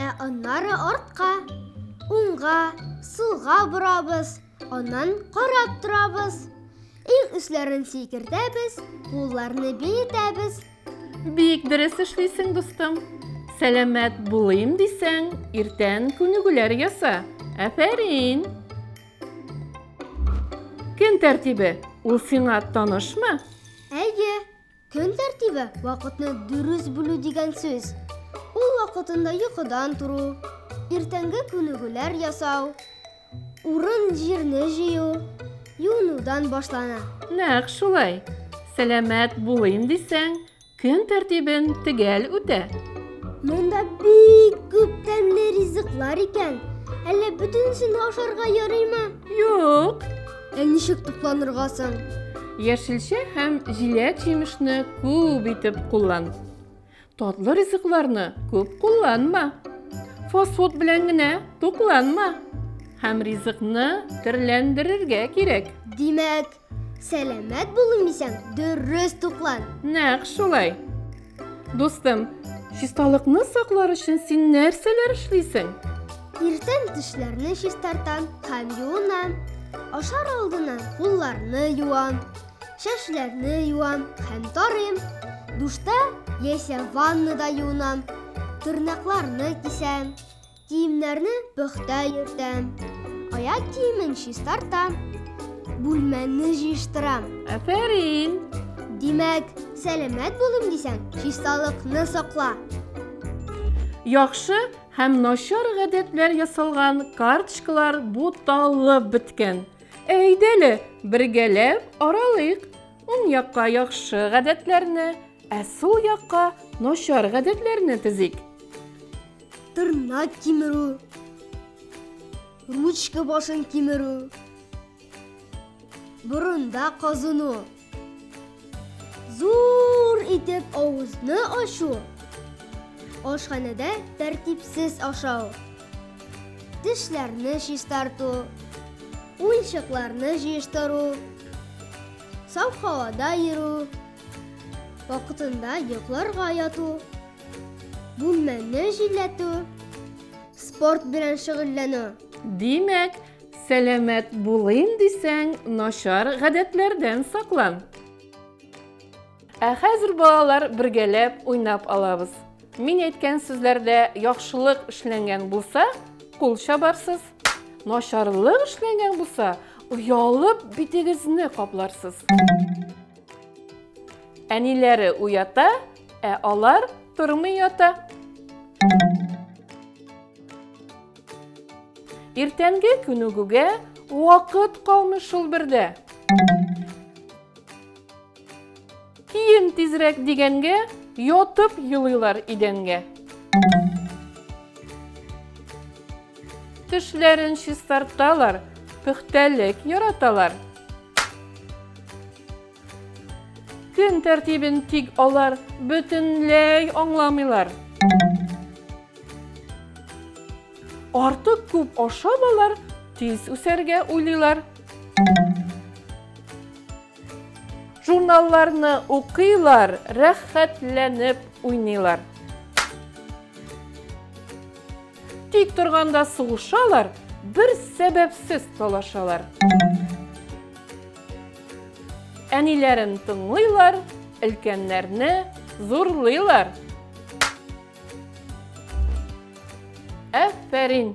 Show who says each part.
Speaker 1: Ә аннары артка, уңга, сулга борабыз, аннан карап торабыз. Иң өсләрен сикертәбез, кулларны биетәбез. Бик
Speaker 2: дөрес эшлисең, дустым. Сәламәт булыйм дисәң, иртән күнегүләр яса. Әфәрин! Көн тәртибе ул сиңа танышмы? Әйе,
Speaker 1: Көн тәртибе вакытны дөрес бүлү дигән сүз. Ул вакытында йокыдан тору, иртәнге күнегүләр ясау, урын-җирне җыю, юынудан башлана. Нәкъ шулай.
Speaker 2: Сәламәт булыйм дисәң, көн тәртибен төгәл үтә. Монда
Speaker 1: бик күп тәмле ризыклар икән. Әллә бөтенесен ашарга ярыймы? Юк.
Speaker 2: Ә ничек
Speaker 1: тукланырга соң? Яшелчә
Speaker 2: һәм җиләк-җимешне күп итеп куллан. Татлы ризыкларны күп кулланма. Фастфуд белән генә тукланма. Һәм ризыкны төрләндерергә кирәк. Димәк,
Speaker 1: сәламәт булыйм дисәң, дөрес туклан. Нәкъ шулай.
Speaker 2: Дустым, чисталыкны саклар өчен син нәрсәләр эшлисең? Иртән
Speaker 1: тешләрне чистартам һәм юынам. Ашар алдыннан кулларны юам, чәчләрне юам һәм тарыйм. Душта яисә ваннада юынам. Тырнакларны кисәм, Киемнәрне пөхтә йөртәм. Аяк киемен чистартам. Бүлмәнне җыештырам. Афәрин!
Speaker 2: Димәк,
Speaker 1: сәламәт булым дисәң, чисталыкны сакла.
Speaker 2: Яхшы һәм начар гадәтләр ясалган карточкалар буталып беткән. Әйдәле, бергәләп аралыйк. Уң якка яхшы гадәтләрне, ә сул якка начар гадәтләрне тезик.
Speaker 1: Тырнак кимерү. Ручка башын кимерү. Борында казыну. Зур итеп авызны ачу. Ашханәдә тәртипсез ашау. Тешләрне чистарту. Уенчыкларны җыештыру. Сау һавада йөрү. Вакытында йокларга яту. Бүлмәне җилләтү, спорт белән шөгыльләнү. Димәк,
Speaker 2: сәламәт булыйм дисәң, начар гадәтләрдән саклан. Ә хәзер, балалар, бергәләп уйнап алабыз. Мин әйткән сүзләрдә яхшылык эшләнгән булса, кул чабарсыз. Начарлык эшләнгән булса, оялып битегезне капларсыз. Әниләре уята, ә алар тормый ята. Иртәнге күнегүгә вакыт калмый шул бердә. Киен тизрәк дигәнгә, ятып елыйлар идәнгә. Төшләрен чистарталар, пөхтәлек яраталар. Көн тәртибен тик алар бөтенләй аңламыйлар. Артык күп ашап алар тиз үсәргә уйлыйлар. Журналларны укыйлар, рәхәтләнеп уйныйлар. Тик торганда сугышалар, бер сәбәпсез талашалар. Әниләрен тыңлыйлар, өлкәннәрне зурлыйлар. Әфәрин!